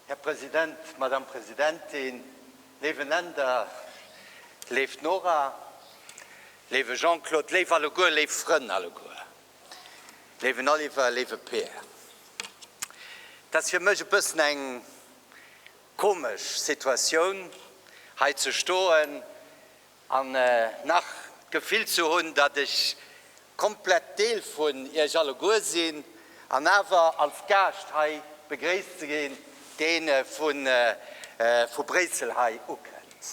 Här President, Madame Presidentin, Néiweneender, léift Nora, léiwe Jean-Claude, léif alleguer, léif Frënn alleguer, léiwen Oliver, léiwe Peer, et ass fir mech e bëssen eng Komesch Situatioun hei ze stoen an nach d'Gefill ze hunn, datt ech komplett Deel vun iech alleguer sinn an awer als Gaascht hei begréisst ze ginn, deen vu Bréissel hei ukënnt.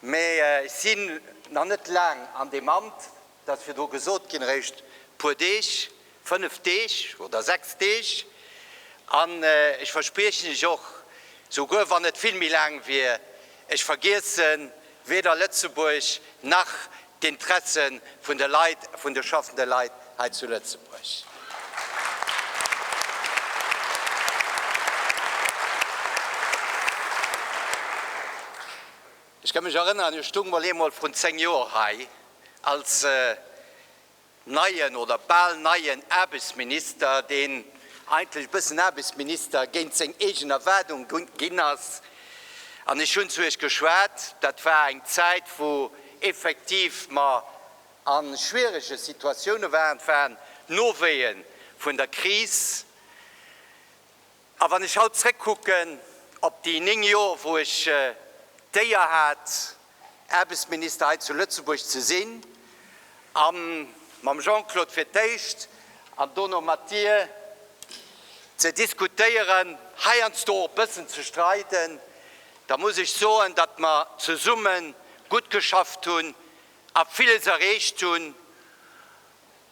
Mee ech sinn nach net laang an deem Amt, Et ass virdru gesot ginn, eréischt puer Deeg, fënnf Deeg oder sechs Deeg, an ech verspriechen lech och, souguer wann et vill méi laang wier, ech vergiesse weder Lëtzebuerg nach d'Interesse vun de Leit, vun de schaffende Leit hei zu Lëtzebuerg. Ech ka mech erënneren, ech stoung mol eemol vrun 10 Joer hei als neien oder bal neien Aarbechtsminister, deen eigentlech e bëssen Aarbechtsminister géint seng eegen Erwaardung ginn ass, an ech hunn zu Iech geschwat. Dat war eng Zäit, wou effektiv mer a schwierege Situatioune waren, et waren d'Nowéeë vun der Kris. A wann ech haut zréckkucken op déi néng Jor, wou ech d'Éier hat, Aarbechtsminister hei zu Lëtzebuerg ze sinn, a mam Jean-Claude fir d'éischt an dono mat Dir ze diskutéieren, heiansdo och bëssen ze streiden, da muss ech soen, datt mer zesumme gutt geschafft hunn a villes erreecht hunn.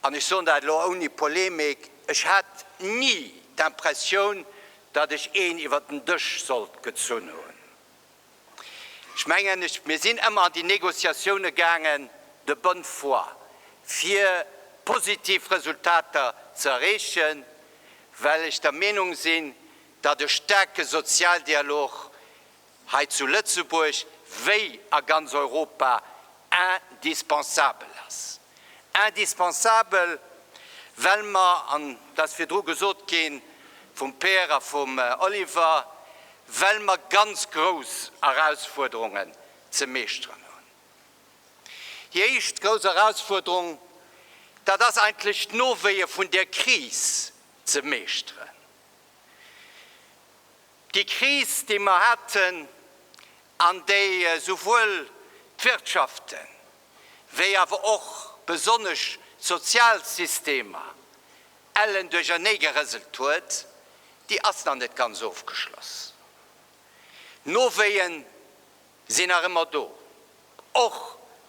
an ech soen dat elo ouni Polemik, ech hat ni d'Impressioun, datt ech een iwwer den Dësch sollt gezunn hunn. Ech mengen, mir sinn ëmmer an déi Négociatioune gaangen de bonne foi, fir positiv Resultater ze erreechen, well ech der Meenung sinn, datt e staarke Sozialdialog hei zu Lëtzebuerg wéi a ganz Europa indispensabel ass. Indispensabel, well mer, an et ass virdru gesot gi vum Pierre a vum Oliver, well mer ganz grouss Erausfuerderungen ze meeschteren hunn. Déi éischt grouss Erausfuerderung, dat ass eigentlech d'Nowéie vun där Kris ze meeschteren. Déi Kris, déi mer haten an déi souwuel d'Wirtschaften, wéi awer och besonnesch d'Sozialsystemer ellen duercherneegerëselt huet, déi ass nach net ganz ofgeschloss. D'Nowéeën sinn nach ëmmer do, och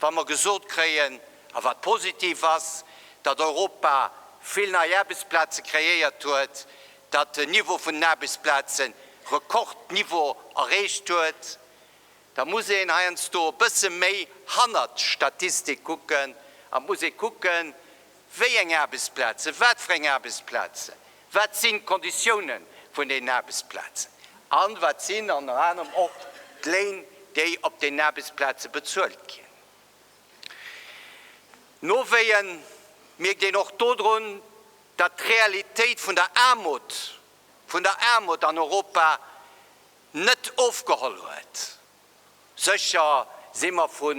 wa mer gesot kréien, a wat positiv ass, datt Europa vill nei Aarbechtsplaze kreéiert huet, datt den Niveau vun den Aarbechtsplaze Rekordniveau erreecht huet, da muss een heiansdo e bësse méi hannert d'Statistik kucken a muss ee kucken, Wéi eng Aarbechtsplazen, wat fir eng Aarbechtsplazen, wat sinn d'Konditiounen vun deenen Aarbechtsplazen a wat sinn ënner anerem och d'Léin, déi op deenen Aarbechtsplaze bezuelt ginn? Nowéien mierkt een och dodrun, datt d'Realitéit vun der Aarmut, vun der Aarmut an Europa net ofgeholl huet. Sécher si mer vu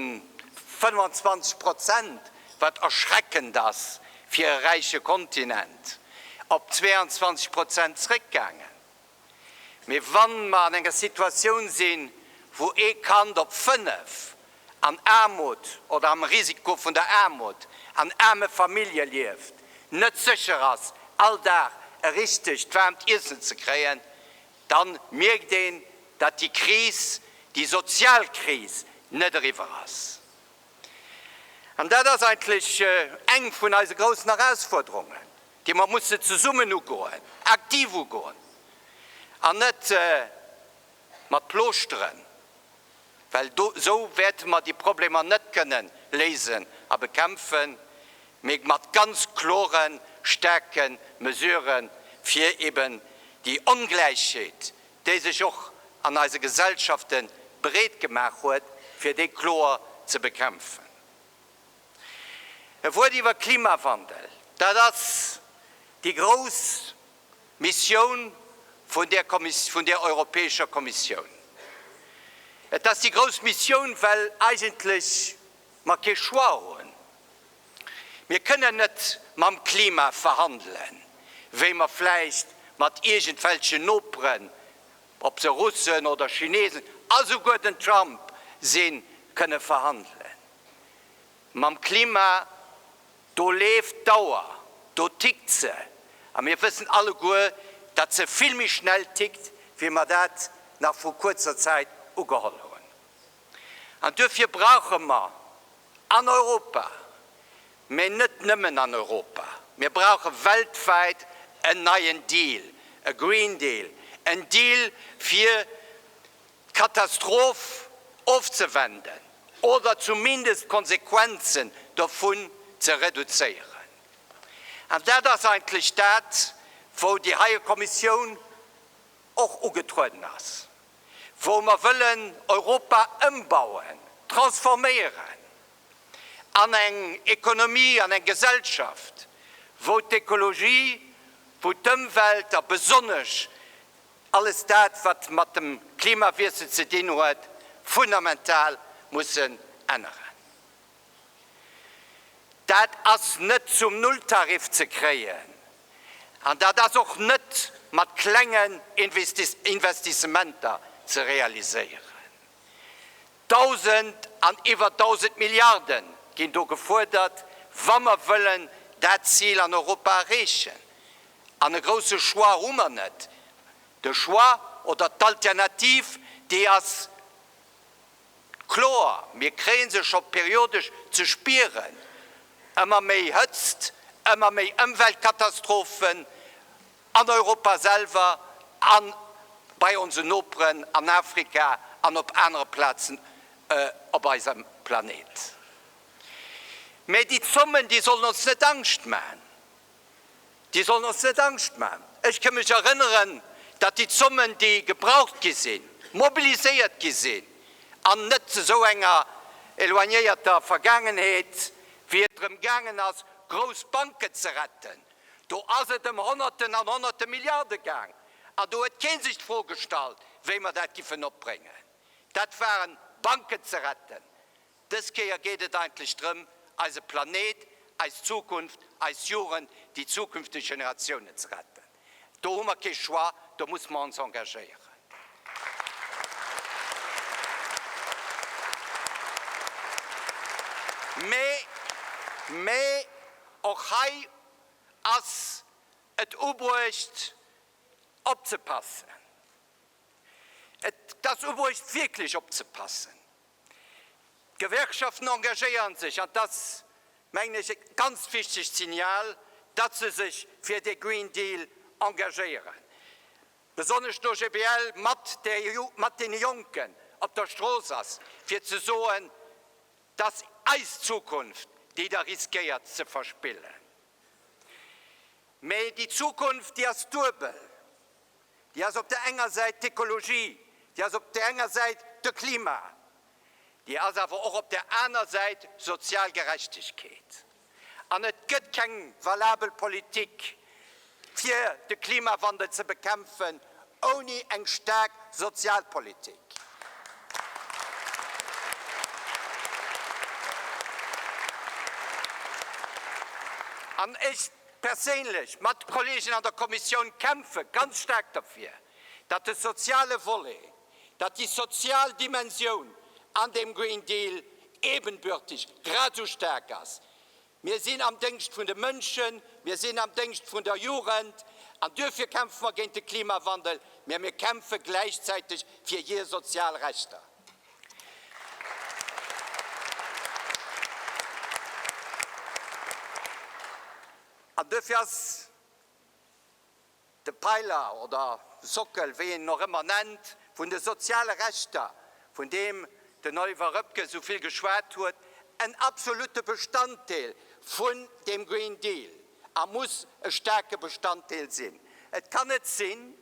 25 Prozent, wat erschreckend ass fir e räiche Kontinent, op 22 Prozent zréckgaangen. Mee wa mer an enger Situatioun sinn, wou ee Kand op fënnef an Aarmut oder am Risiko vun der Aarmut an aarme Famillje lieft, net sécher ass all Dag e richtegt waarmt Iessen ze kréien, dann mierkt een, datt déi Kris, déi sozial Kris net eriwwer ass. An dat ass eigentlech eng vun eise groussen Erausfuerderungen, déi mer mussen zesummen ugoen, aktiv ugoen an net mat Plooschteren well do esou wäerte mer déi Problemer net kënnen léisen a bekämpfen, mee mat ganz klore staarke Mesurë fir eben déi Ongläichheet, déi sech och an eise Gesellschafte breet gemaach huet, fir déi kloer ze bekämpfen. E Wuert iwwer Klimawandel, dat ass déi grouss Missioun vun där Kommis-, vun där Europäescher Kommissioun. Et ass déi grouss Missioun, well eigentlech mer kee Choix hunn. Mir kënnen net mam Klima verhandelen, wéi mer vläicht mat iergendwelchen Noperen, ob se Russen oder Chinesen, a souguer den Trump sinn, kënne verhandelen. Mam Klima, do leeft d'Auer, do tickt se. A mir wëssen alleguer, datt se vill méi schnell tickt, wéi mer dat nach vru kuerzer Zäit ugeholl hunn. An duerfir brauche mer an Europa, mä net nëmmen an Europa, mir brauche weltwäit en neien Deal, e Green Deal, en Deal fir d'Katastroph ofzewenden oder zumindest d'Konsequenzen dovun ze reduzéieren. An dat ass eigentlech dat, wou déi heie Kommissioun och ugetrueden ass, wou mer wëllen Europa ëmbauen, transforméieren an eng Economie, an eng Gesellschaft, wou d'Ekologie, wou d'Ëmwelt a besonnesch Alles dat wat mat dem Klimawiessel ze dinn huet, fundamental mussen änneren. Dat ass net zum Nulltarif ze kréien an dat ass och net mat klengen Investissementer ze realiséieren. Dausend an iwwer dausend Milliarde ginn do gefuerdert, wa mer wëllen dat Zil an Europa erreechen. An e grousse Choix hu mer net. De Choix oder d'Alternativ, déi ass kloer, mir kréie se scho periodesch ze spieren, ëmmer méi Hëtzt, ëmmer méi Ëmweltkatastrophen an Europa selwer a bei onsen Noperen an Afrika an op anere Plazen op eisem Planet. Mä déi Zommen, déi sollen ons net Angscht maachen. Déi sollen ons net Angscht maachen. Ech ka mech erënneren, datt déi Zommen, déi gebraucht gi sinn, mobiliséiert gi sinn, an net zu esou enger éloignéierter Vergaangenheet, wéi et drëm gaangen ass, grouss Banken ze retten, do ass et ëm Honnerten an Honnerte Milliarde gaang, an do huet kee sech d'Fro gestallt, wéi mer dat giffen opbréngen. Dat waren Banken ze retten. Dës Kéier geet et eigentlech drëm, eise Planeet, eis Zukunft, eis Jugend, déi zukünfteg Generatiounen ze retten. Do hu mer kee Choix, do muss mer ons engagéieren. Mee och hei ass et ubruecht opzepassen. Et ass ubruecht wierklech opzepassen, D'Gewerkschaften engagéieren sech, an dass, mengen ech, e ganz wichtegt Signal, dass se sech fir de Green Deal engagéieren, besonnesch d'OGBL mat deene Jonken op der Strooss ass, fir ze soen, dass eis Zukunft, déi Der riskéiert ze verspillen. Mee déi Zukunft, déi ass duebel. Déi ass op der enger Säit d'Ekologie, déi ass op der enger Säit de Klima, déi ass awer och op der aner Säit sozial Gerechtegkeet. An et gëtt keng valabel Politik, fir de Klimawandel ze bekämpfen, ouni eng staark Sozialpolitik. An ech. perséinlech mat Kollegen an der Kommissioun kämpfe ganz staark derfir, datt de soziale Volet, datt déi sozial Dimensioun an deem Green Deal ebenbürtig, grad esou staark ass. Mir sinn am Déngscht vun de Mënschen, mir sinn am Déngscht vun der Jugend an duerfir kämpfe mer géint de Klimawandel, mä mir kämpfe gläichzäiteg fir hir sozial Rechter. An duerfir ass de Peiler oder Sockel, wéi een en och ëmmer nennt, vun de soziale Rechter, vun deem den Oliver Röpke esou vill geschwat huet, en absolute Bestanddeel vun deem Green Deal a muss e staarke Bestanddeel sinn. Et kann net sinn,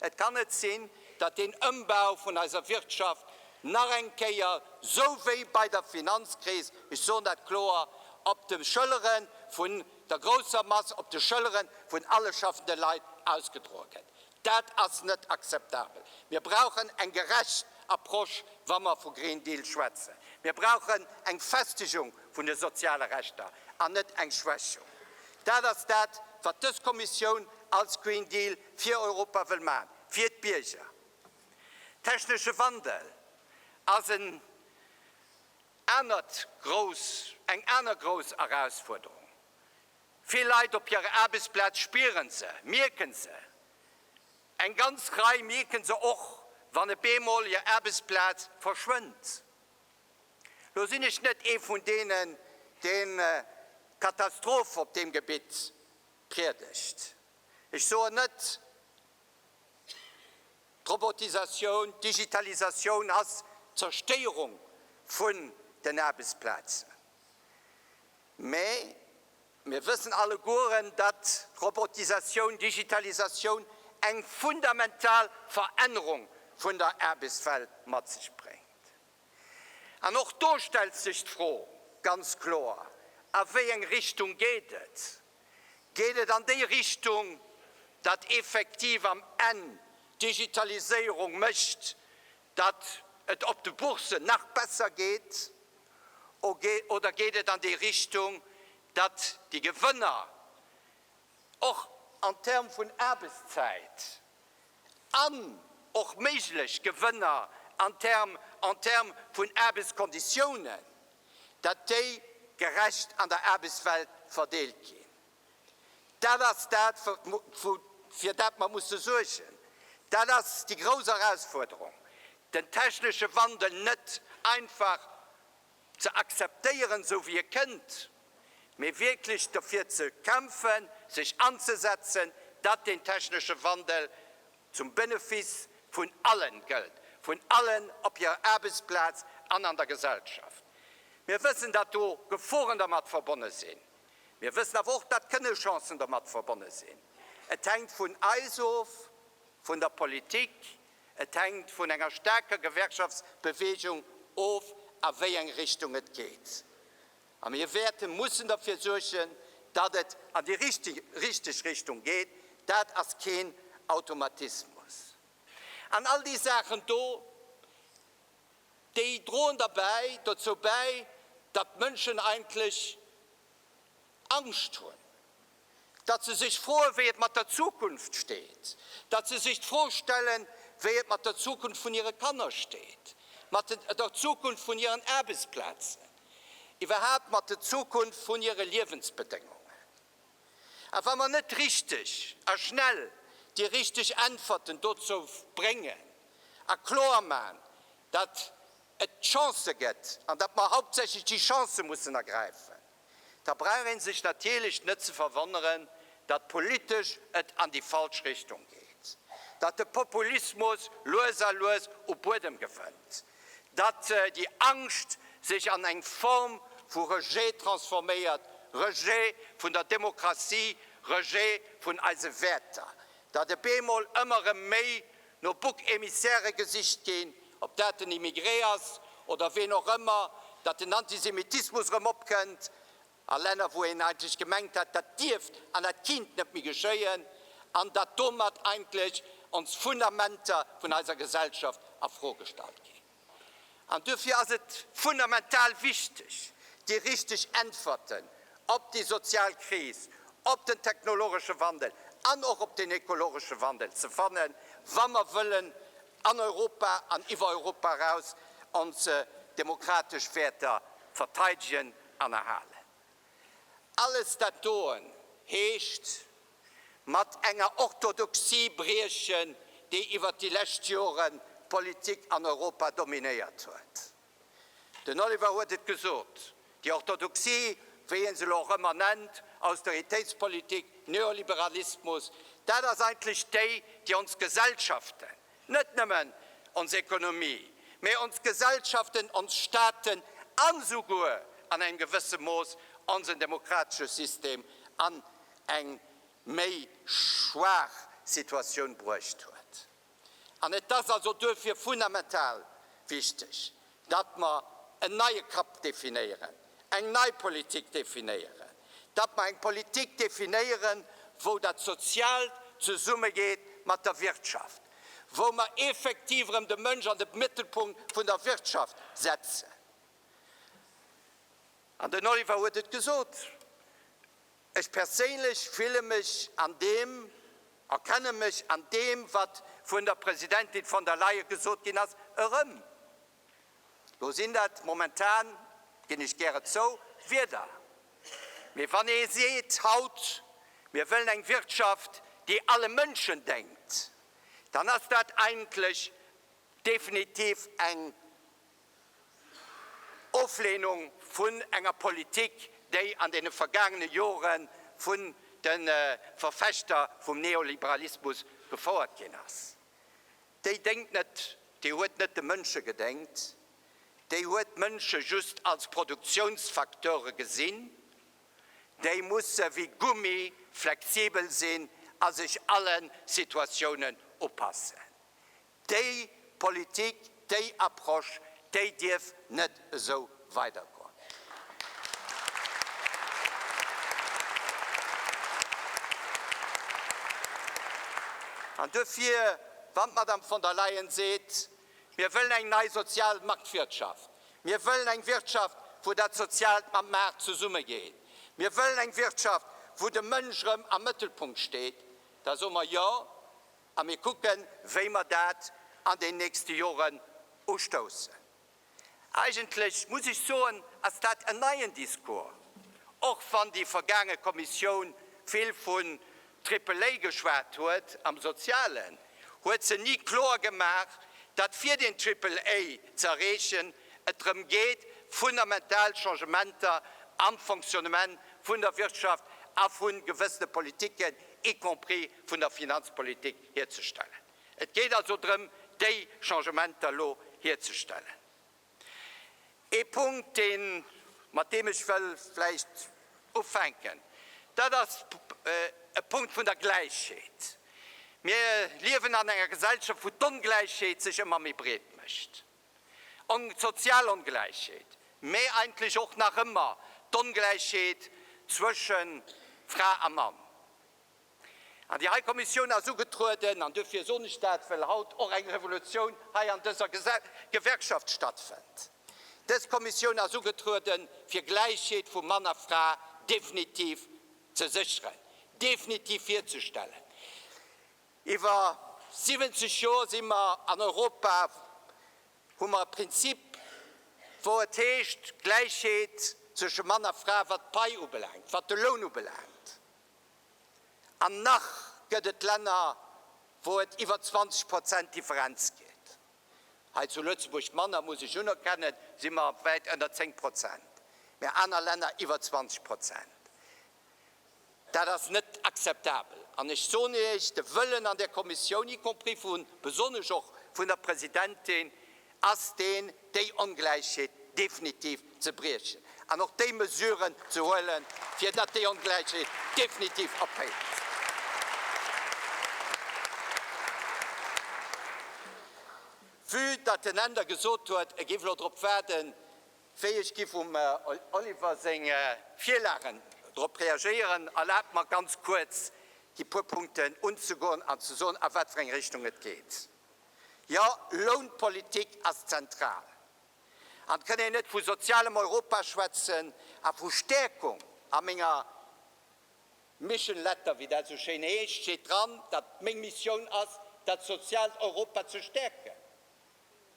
Et kann net sinn, datt deen Ëmbau vun eiser Wirtschaft nach eng Kéier, sou wéi bei der Finanzkris, ech soen dat kloer, op de Schëllere vun der grousser Mass, op de Schëllere vun alle schaffende Leit ausgedroe gëtt. Dat ass net akzeptabel. Mir brauchen eng gerecht Approche, wa mer vu Green Deal schwätzen. Mir brauchen eng Festegung vun de soziale Rechter an net eng Schwächung. Dat ass dat, wat dës Kommissioun als Green Deal fir Europa wëll maachen, fir d'Bierger. Technesche Wandel ass en anert grouss, eng aner grouss Erausfuerderung. Vill Leit op hirer Aarbechtsplaz spieren se, mierken se. Eng ganz Rei mierken se och, wann e bemol hir Aarbechtsplaz verschwënnt. Lo sinn ech net ee vun deenen, deen d'Katastroph op deem Gebitt priedegt. Ech soen net, d'Robotisatioun, d'Digitalisatioun ass d'Zerstéierung vun den Aarbechtsplazen, mä mir wëssen allegueren, datt Robotisatioun, d'Digitalisatioun eng fundamental Verännerung vun der Aarbechtswelt mat sech bréngt. An och do stellt sech d'Fro ganz kloer, A wéi eng Richtung geet et? Geet et an déi Richtung, datt effektiv am Enn d'Digitaliséierung mécht, datt et op de Bourssen nach besser geet? Oder geet et an déi Richtung, datt déi Gewënner och en termes vun Aarbechtszäit an och méiglech Gewënner en termes en termes vun Aarbechtskonditiounen, datt déi gerecht an der Aarbechtswelt verdeelt ginn. Dat ass dat, fir dat mer musse suergen. Dat ass déi grouss Erausforderung, den technesche Wandel net einfach. ze akzeptéieren esou wéi e kënnt, mee wierklech derfir ze kämpfen, sech anzesetzen, datt deen technesche Wandel zum Benefice vun allen gëllt, vun allen op hirer Aarbechtsplaz an an der Gesellschaft. Mir wëssen, datt do Geforen dermat verbonne sinn. Mir wëssen awer och, datt kënne Chancen dermat verbonne sinn. Et hänkt vun eis of, vun der Politik, Et hänkt vun enger staarker Gewerkschaftsbeweegung of a wéi eng Richtung et geet. A mir wäerte mussen derfir suergen, datt et an déi richteg Richtung geet. Dat ass keen Automatismus. An all déi Saachen do, déi droen derbäi dozou bäi, datt d'Mënschen eigentlech Angscht hunn. datt se sech froen, wéi et mat der Zukunft steet, datt se sech d'Fro stellen, wéi et mat der Zukunft vun hire Kanner steet, mat der Zukunft vun hiren Aarbechtsplazen, iwwerhaapt mat der Zukunft vun hire Liewensbedéngungen. A wa mer net richteg a schnell déi richteg Äntwerten dozou bréngen a kloer maachen, datt et Chancë gëtt an datt mer hauptsächlech déi Chancë mussen ergräifen, da brauch een sech natierlech net ze verwonneren, datt politesch et an déi falsch Richtung geet, datt de Populismus lues a lues u Buedem gewënnt, datt déi Angscht sech an eng Form vu Rejet transforméiert, Rejet vun der Demokratie, Rejet vun eise Wäerter, datt e beemol ëmmer erëm méi no Bouc émissairë gesicht ginn, ob dat den Immigré ass oder ween och ëmmer, datt den Antisemitismus erëm opkënnt a Länner, wou een eigentlech gemengt hat, dat dierft an dat kinnt net méi geschéien, an datt domat eigentlech ons Fundamenter vun eiser Gesellschaft a Fro gestallt ginn. An duerfir ass et fundamental wichteg, déi richteg Äntwerten op déi sozial Kris, op den technologesche Wandel an och op den ekologesche Wandel ze fannen, wa mer wëllen an Europa an iwwer Europa eraus ons demokratesch Wäerter verteidegen an erhalen. Alles dat doen heescht, mat enger Orthodoxie briechen, déi iwwer déi lescht Jore d'Politik an Europa dominéiert huet. Den Oliver huet et gesot, déi Orthodoxie, wéi een se elo och ëmmer nennt, Austeritéitspolitik, Neoliberalismus, dat ass eigentlech déi, déi ons Gesellschaften, net nëmmen ons Ekonomie, mä ons Gesellschaften, ons Staaten a souguer an engem gewësse Mooss onsen demokratesche System an eng méi schwaach Situatioun bruecht huet. An et ass also duerfir fundamental wichteg, datt mer en neie Cap definéieren, eng nei Politik definéieren, datt mer eng Politik definéieren, wou dat Soziaalt zesummegeet mat der Wirtschaft, wou mer effektiv erëm de Mënsch an de Mëttelpunkt vun der Wirtschaft setzen. An den Oliver huet et gesot. Ech perséinlech fille mech an deem, erkenne mech an deem, wat vun der Presidentin von der Leyen gesot ginn ass, erëm. Lo sinn dat momentan, ginn ech gäre zou, Wierder. Mee wann ee seet haut, mir wëllen eng Wirtschaft, déi alle Mënschen déngt, dann ass dat eigentlech definitiv eng Oflehnung vun enger Politik, déi an deene vergaangene Jore vun de Verfechter vum Neoliberalismus gefouert ginn ass, déi déngt net, déi huet net de Mënsche gedéngt, déi huet d'Mënsche just als Produktionsfacteure gesinn, déi musse wéi Gummi flexibel sinn a sech alle Situatiounen upassen. Déi Politik, déi Approche, déi dierf net esou weidergoen. An duerfir, wann d'Madame von der Leyen seet, Mir wëllen eng nei sozial Marktwirtschaft, mir wëllen eng Wirtschaft, wou dat Soziaalt mam Maart zesummegeet, mir wëllen eng Wirtschaft, wou de Mënsch erëm am Mëttelpunkt steet, da soe mer, Jo, A mir kucken, wéi mer dat an den nächste Joren ustoussen. Eigentlech muss ech soen, ass dat en neien Discours, och wann déi vergaange Kommissioun vill vun Triple A geschwat huet am Sozialen, huet se ni kloer gemaach, datt fir den Triple A ze erreechen, et drëm geet, fundamental Changementer am Fonctionnement vun der Wirtschaft a vu gewëssene Politiken, y compris vun der Finanzpolitik hierzestellen. Et geet also drëm, déi Changementer elo hierzestellen. Ee Punkt, deen, mat deem ech wëll vläicht ufänken, dat ass e Punkt vun der Gläichheet. Mir liewen an enger Gesellschaft, wou d'Ongläichheet sech ëmmer méi breet mécht, d'sozial Ongläichheet, mä eigentlech och nach ëmmer d'Ongläichheet zwësche Fra a Mann. An déi hei Kommissioun ass ugetrueden, an duerfir soen ech dat, well haut och eng Revolutioun hei an dëser Gewerkschaft stattfënnt. Dës Kommissioun ass ugetrueden, fir Gläichheet vu Mann a Fra definitiv ze sécheren, definitiv hierzustellen. Iwwer 70 Joer si mer an Europa, hu mer e Prinzip, wou et heescht, Gläichheet zwësche Mann a Fra, wat d'Pai ubelaangt, wat de Loun ubelaangt. An nach gëtt et Länner, wou et iwwer 20 Prozent Differenz gëtt. Hei zu Lëtzebuerg manner, muss ech unerkennen, si mer wäit ënner 10 Prozent, mä aner Länner iwwer 20 Prozent. Dat ass net akzeptabel. An ech soen Iech, de Wëllen an där Kommissioun, y compris besonnesch och vun der Presidentin, ass deen, déi Ongläichheet definitiv ze briechen an och déi Mesuren ze huelen, fir datt déi Ongläichheet definitiv ophéiert. Vue datt den Änder gesot huet, e géif elo drop waarden, wéi ech géif um Oliver seng Virlagen drop reagéieren, erlaabt mer, ganz kuerz déi puer Punkten unzegoen an ze soen, a wat fir eng Richtung et geet. Jo, Lounpolitik ass zentral. An et kënn een net vu sozialem Europa schwätzen a vu Stäerkung. A menger Mission Letter, wéi dat esou schéin heescht, steet dran, datt meng Missioun ass, dat soziaalt Europa ze stäerken.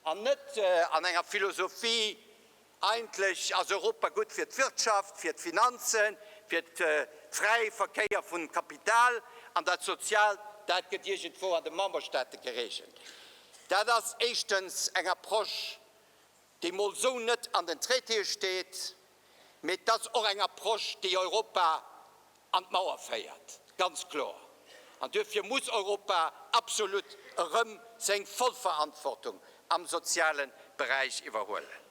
An net an enger Philosophie, Eigentlech ass Europa gutt fir d'Wirtschaft, fir d'Finanzen, fir de fräie Verkéier vun Kapital, an dat Soziaalt, dat gëtt iergendwou an de Memberstaate geregelt. Dat ass éischtens eng Approche, déi mol esou net an den Traitéë steet, mee et ass och eng Approche, déi Europa an d'Mauer féiert, ganz kloer. An duerfir muss Europa absolut erëm seng voll Verantwortung am soziale Beräich iwwerhuelen.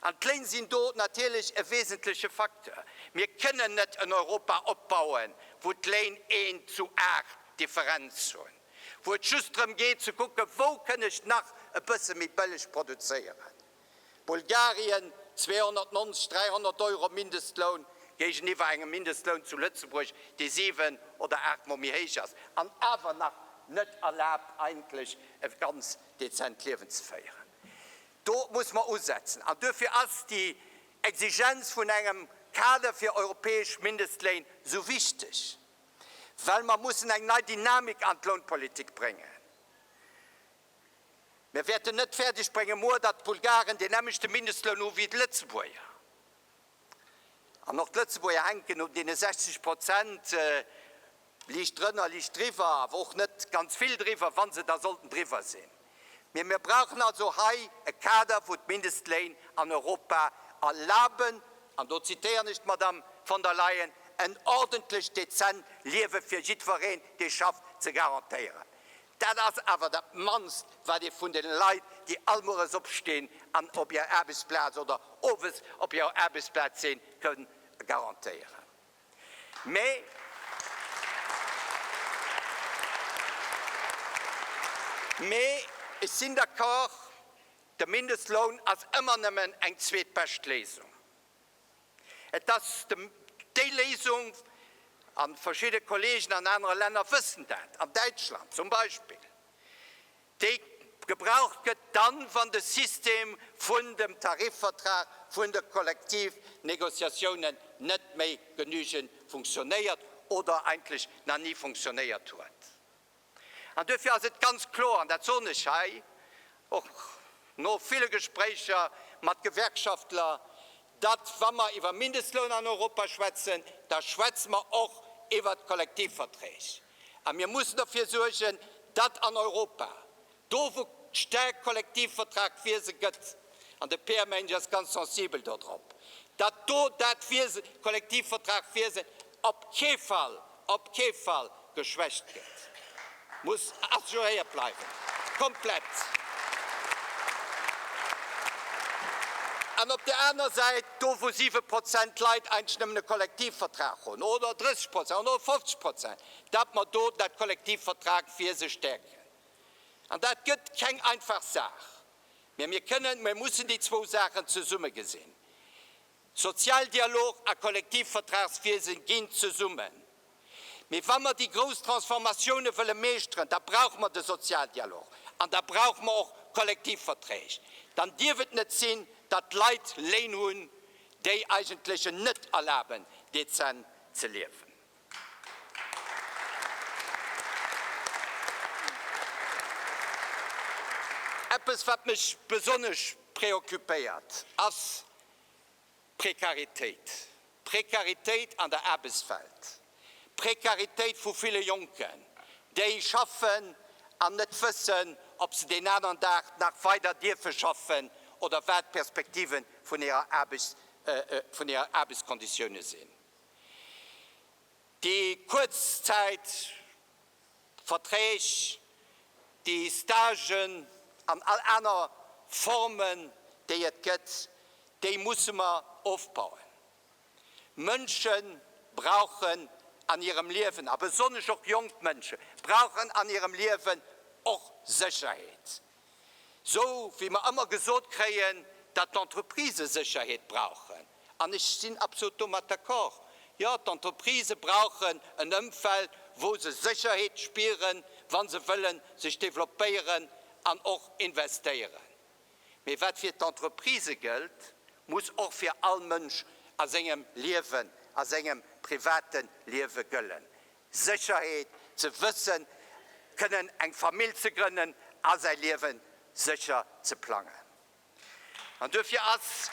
An d'Léin sinn do natierlech e wesentleche Facteur. Mir kënnen net en Europa opbauen, wou d'Léin een zu aacht Differenz hunn, wou et just drëm geet ze kucken, wou kënn ech nach e bësse méi bëlleg produzéieren. Bulgarien, 290, 300 Euro Mindestloun géigeniwwer engem Mindestloun zu Lëtzebuerg, dee siwen oder aacht Mol méi héich ass an awer nach net erlaabt eigentlech e ganz dezent Liewen ze féieren. Do muss mer usetzen an duerfir ass déi Exigenz vun engem Kader fir europäesch Mindestléin esou wichteg, well mer mussen eng nei Dynamik an d'Lounpolitik bréngen. Mir wäerten net fäerdeg bréngen muer, datt d'Bulgaren deen nämlechte Mindestloun hu wéi d'Lëtzebuerger. An och d'Lëtzebuerger hänken un deene 60 Prozent, liicht drënner, liicht driwwer, awer och net ganz vill driwwer, wa se da sollten driwwer sinn. Mee mir brauchen also hei e Kader, wou d'Mindestléin an Europa erlaben, an do zitéieren ech d'Madame von der Leyen, en ordentlecht, dezent Liewe fir jiddwereen, dee schafft, ze garantéieren. Dat ass awer dat mannst, wat ee vun de Leit, déi all Mueres opstinn an op hir Aarbechtsplaz oder Owes op hir Aarbechtsplaz sinn, kënn garantéieren. Mee ech sinn d'accord, de Mindestloun ass ëmmer nëmmen eng zweetbescht Léisung. Et ass déi Léisung, a verschidde Kollegen an anere Länner wëssen dat, an Däitschland zum Beispill, déi gebraucht gëtt dann, wann de System vun dem Tarifvertrag, vun de Kollektivnegociatiounen net méi genügend funktionéiert oder eigentlech nach ni funktionéiert huet. An duerfir ass et ganz kloer, an dat soen ech hei och no ville Gespréicher mat Gewerkschaftler, datt, wa mer iwwer Mindestloun an Europa schwätzen, da schwätze mer och iwwert d'Kollektivverträg. A mir mussen derfir suergen, datt an Europa Do wou d'Stärkt Kollektivvertrag d'Wiese gëtt, an de PMNG ass ganz sensibel dodrop, datt do dat Wiese, Kollektivvertrag Wiesen op kee Fall, op kee Fall geschwächt gëtt, muss assuréiert bleiwen, komplett. An op där aner Säit, do wou 7 Prozent Leit eigentlech nëmmen e Kollektivvertrag hunn, oder 30 Prozent oder 50 Prozent, datt mer do dat Kollektivvertrag Wiese stärken. An dat gëtt keng einfach Saach. Mä mir kënnen, mir mussen déi zwou Saachen zesumme gesinn. Sozialdialog a Kollektivvertragswiese ginn zesummen. Mee wa mer déi grouss Transformatiounen wëlle meeschteren, da brauche mer de Sozialdialog an da brauche mer och Kollektivverträg. Dann dierf et net sinn, datt d'Leit Léin hunn, déi eigentlech en net erlaben, dezent ze liewen. Eppes, wat mech besonnesch preoccupéiert, ass d'Prekaritéit, d'Prekaritéit an der Aarbechtswelt, d'Prekaritéit vu ville Jonken, déi schaffen an net wëssen, ob se deen aneren Dag nach weider dierfe schaffen oder wat d'Perspektive vun hirer Aarbechtskonditioune sinn. Déi Kuerzzäitverträg, déi Stagen an all aner Formen, déi et gëtt, déi musse mer ofbauen. Mënsche brauchen an hirem Liewen, a besonnesch och jonk Mënsche brauchen an hirem Liewen och Sécherheet. Esou wéi mer ëmmer gesot kréien, dat d'Entreprisë Sécherheet brauchen, an ech sinn absolut domat d'accord, jo, d'Entreprisë brauchen en Ëmfeld, wou se Sécherheet spieren, wa se wëlle sech developpéieren an och investéieren. Mee wat fir d'Entreprisë gëllt, muss och fir all Mënsch a sengem Liewen, a sengem private Liewe gëllen. Sécherheet, ze wësse kënnen eng Famill ze grënnen a säi Liewe sécher ze plangen. An duerfir ass,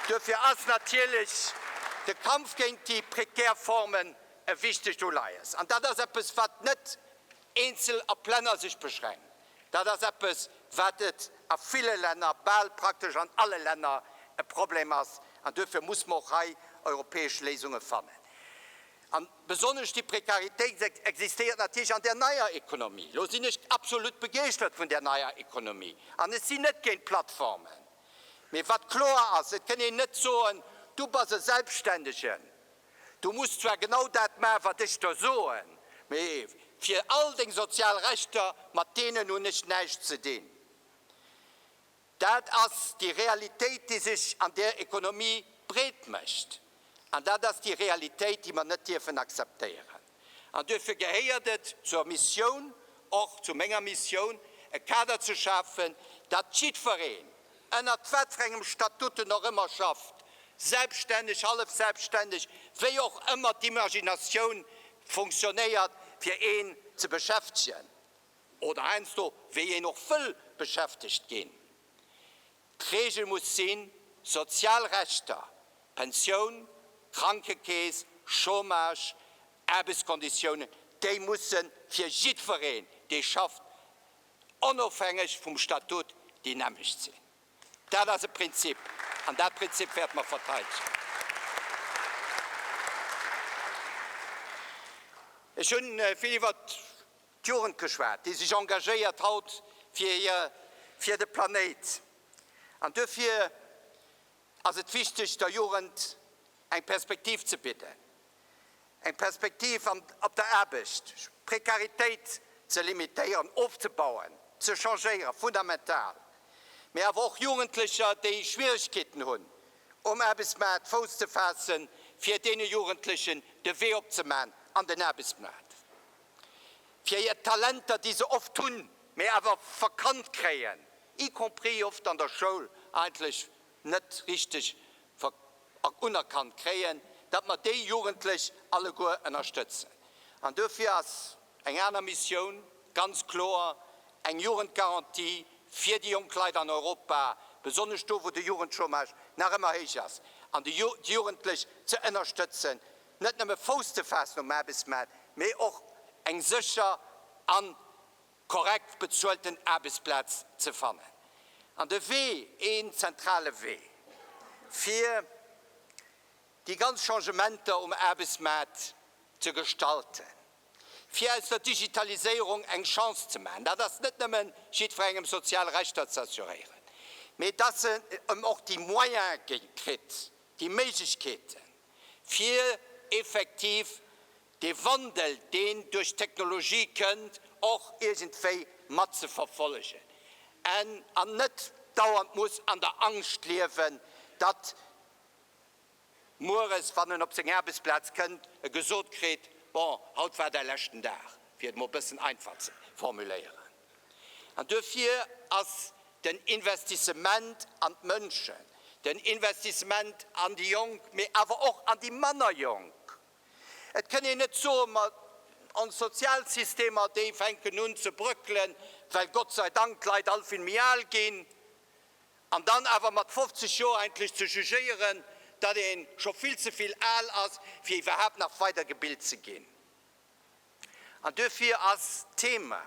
duerfir ass natierlech de Kampf géint déi prekär Formen e wichtegt Uleies. An dat ass eppes, wat net eenzel a Plänner sech beschränkt, dat ass eppes, wat et a ville Länner, bal praktesch an alle Länner, e Problem ass. An duerfir muss mer och hei europäesch Léisunge fannen. A besonnesch déi Prekaritéit existéiert natierlech an där neier Ekonomie. Elo sinn ech absolut begeeschtert vun där neier Ekonomie an ech sinn net géint d'Plattformen. Mee wat kloer ass, et kënn een net soen, Du bass e Selbstständegen, Du muss zwar genau dat maachen, wat ech der soen, mee fir all deng sozial Rechter, mat deenen hunn ech näischt ze dinn. Dat ass déi Realitéit, déi sech an der Ekonomie breet mécht. An dat ass déi Realitéit, déi mer net dierfen akzeptéieren. An duerfir gehéiert et zur Missioun, och zu menger Missioun, e Kader ze schafen, datt jiddwereen, ënnert wat fir engem Statut en och ëmmer schafft, selbststänneg, hallef selbststänneg, wéi och ëmmer d'Imaginatioun funktionéiert, fir een ze beschäftegen oder heiansdo wéi een och wëll beschäftegt ginn, D'Regel muss sinn, sozial Rechter, Pensioun, Krankekeess, Chômage, Aarbechtskonditiounen, déi musse fir jiddwereen, dee schafft, onofhängeg vum Statut, déi nämmlecht sinn. Dat ass e Prinzip, an dat Prinzip wäerte mer verteidegen. Ech hu vill iwwert. D'Jugend geschwat, déi sech engagéiert haut fir hir, fir de Planéit. An duerfir ass et wichteg, der Jugend eng Perspektiv ze bidden, eng Perspektiv an, op der Aarbecht, Prekaritéit ze limitéieren, ofzebauen, ze changéieren, fundamental. Mee awer och Jugendlecher, déi Schwieregkeeten hunn, um Aarbechtsmaart Fouss ze faassen, fir deene Jugendlechen de Wee opzemachen an den Aarbechtsmaart. fir hir Talenter, déi se oft hunn, mee awer verkannt kréien, y compris oft an der Schoul eigentlech net richteg unerkannt kréien, datt mer déi Jugendlech alleguer ënnerstëtzen. An duerfir ass eng aner Missioun ganz kloer eng Jugendgarantie fir déi jonk Leit an Europa, besonnesch do, wou de Jugendchômage nach ëmmer héich ass, an déi Jugendlech ze ënnerstëtzen, net nëmme Fouss ze faassen um Aarbechtsmaart, mee och eng sécher a korrekt bezuelten Aarbechtsplaz ze fannen. An de Wee, een zentrale Wee, fir déi ganz Changementer um Aarbechtsmaart ze gestalten, fir aus der Digitaliséierung eng Chance ze maachen, dat ass net nëmme jiddwerengem sozial Rechter ze assuréieren, mee dass en och déi Moyene kritt, déi Méiglechkeeten, fir effektiv dee Wandel, deen duerch d'Technologie kënnt, och iergendwéi matzeverfollegen an net dauernd muss an der Angscht liewen, datt mueres, wann en op seng Aarbechtsplaz kënnt, e gesot kritt, Bon, haut war däi leschten Dag, fir et mol e bëssen einfach ze formuléieren. An duerfir ass den Investissement an d'Mënschen, den Investissement an déi Jonk, mee awer och an déi manner Jonk. Et kënn een net soen, ma ons Sozialsystemer, déi fänken un ze bröckelen, well Gott sei Dank d'Leit all vill méi al ginn, an dann awer mat 50 Joer endlech ze jugéieren, datt ee scho vill ze vill al ass, fir iwwerhaapt nach weidergebilt ze ginn. An duerfir ass d'Thema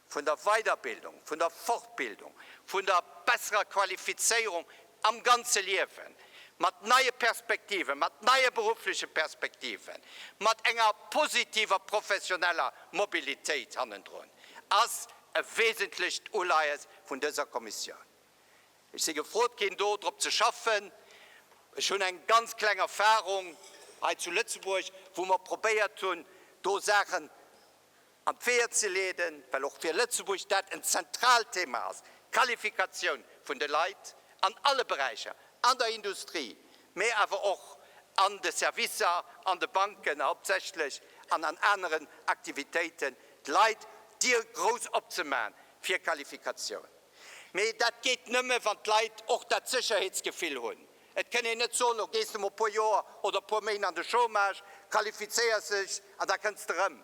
vun der Weiderbildung, vun der Fortbildung, vun der besserer Qualifizéierung am ganze Liewen, mat neie Perspektiven, mat neie beruffleche Perspektiven, mat enger positiver professioneller Mobilitéit hannendrun, ass e wesentlecht Uleies vun dëser Kommissioun. Ech si gefrot ginn, do drop ze schaffen. Ech hunn eng ganz kleng Erfahrung hei zu Lëtzebuerg, wou mer probéiert hunn, do Saachen an d'Weeër ze leeden, well och fir Lëtzebuerg dat en zentraalt Thema ass, d'Qualifikatioun vun de Leit an alle Beräicher, an der Industrie, mä awer och an de Servicer, an de Banken hauptsächlech an an aneren Aktivitéiten, d'Leit d'Dier grouss opzemachen fir Qualifikatioun. Mee dat geet nëmme wann d'Leit och dat Sécherheetsgefill hunn. Et kënn een net soen, lo gees de mol e puer Joer oder e puer Méint an de Chômage, qualifizéiers dech an da kënns de erëm.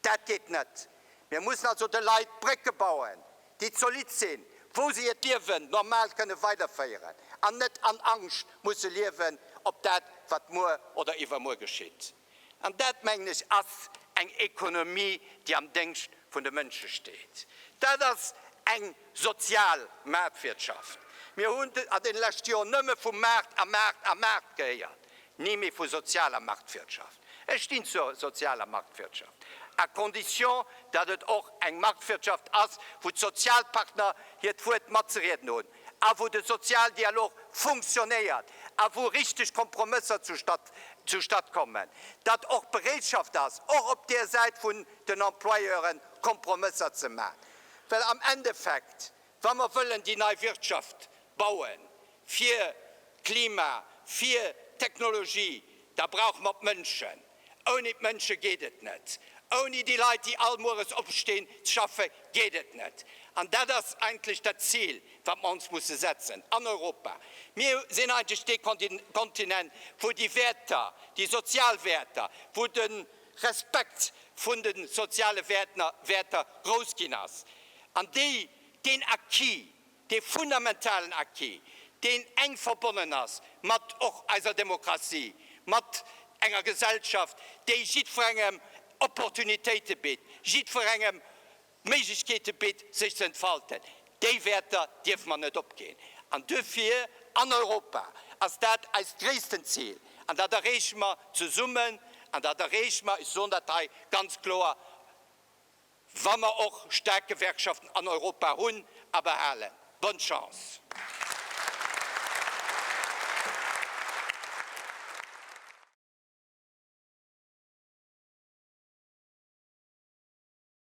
Dat geet net. Mir mussen also de Leit Brécke bauen, déi zolidd sinn, wou se hiert Liewen normal kënne weiderféieren an net an Angscht musse liewen op dat wat muer oder iwwermuer geschitt. An dat, mengen ech, ass eng Ekonomie, déi am Déngscht vun de Mënsche steet. Dat ass eng sozial Maartwirtschaft. Mir hunn an deene leschte Joren nëmme vu Maart a Maart a Maart gehéiert, ni méi vu sozialer Marktwirtschaft. Ech stinn zur sozialer Marktwirtschaft, à condition, datt et och eng Marktwirtschaft ass, wou d'Sozialpartner hiert Wuert matzerieden hunn. a wou de Sozialdialog funktionéiert a wou richteg Kompromësser zustatt zustatt kommen, datt och Bereetschaft ass, och op där Säit vun den Employeuren Kompromësser ze maachen. Well am Endeffekt, wa mer wëllen déi nei Wirtschaft bauen, fir d'Klima, fir d'Technologie, da brauche mer d'Mënschen. Ouni d'Mënsche geet et net. Ouni déi Leit, déi all Mueres opstinn, schaffe geet et net. An dat ass eigentlech dat Zil, wat mer ons musse setzen an Europa. Mir sinn eigentlech dee Kontinent, wou déi Wäerter, déi sozial Wäerter, wou de Respekt vun de soziale Wäerter grouss ginn ass an déi deen Acquis, dee fundamentalen Acquis, deen enk verbonnen ass mat och eiser Demokratie, mat enger Gesellschaft, déi jiddwerengem Opportunitéite bitt, jiddwerengem Méiglechkeete bitt, sech ze entfalten. Déi Wäerter dierfe mer net opginn. An duerfir an Europa ass dat eist gréissten Zil. An dat erreeche mer zesummen. An dat erreeche mer, ech soen dat hei ganz kloer, Wa mer och staark Gewerkschaften an Europa hunn a behalen. Bonne chance!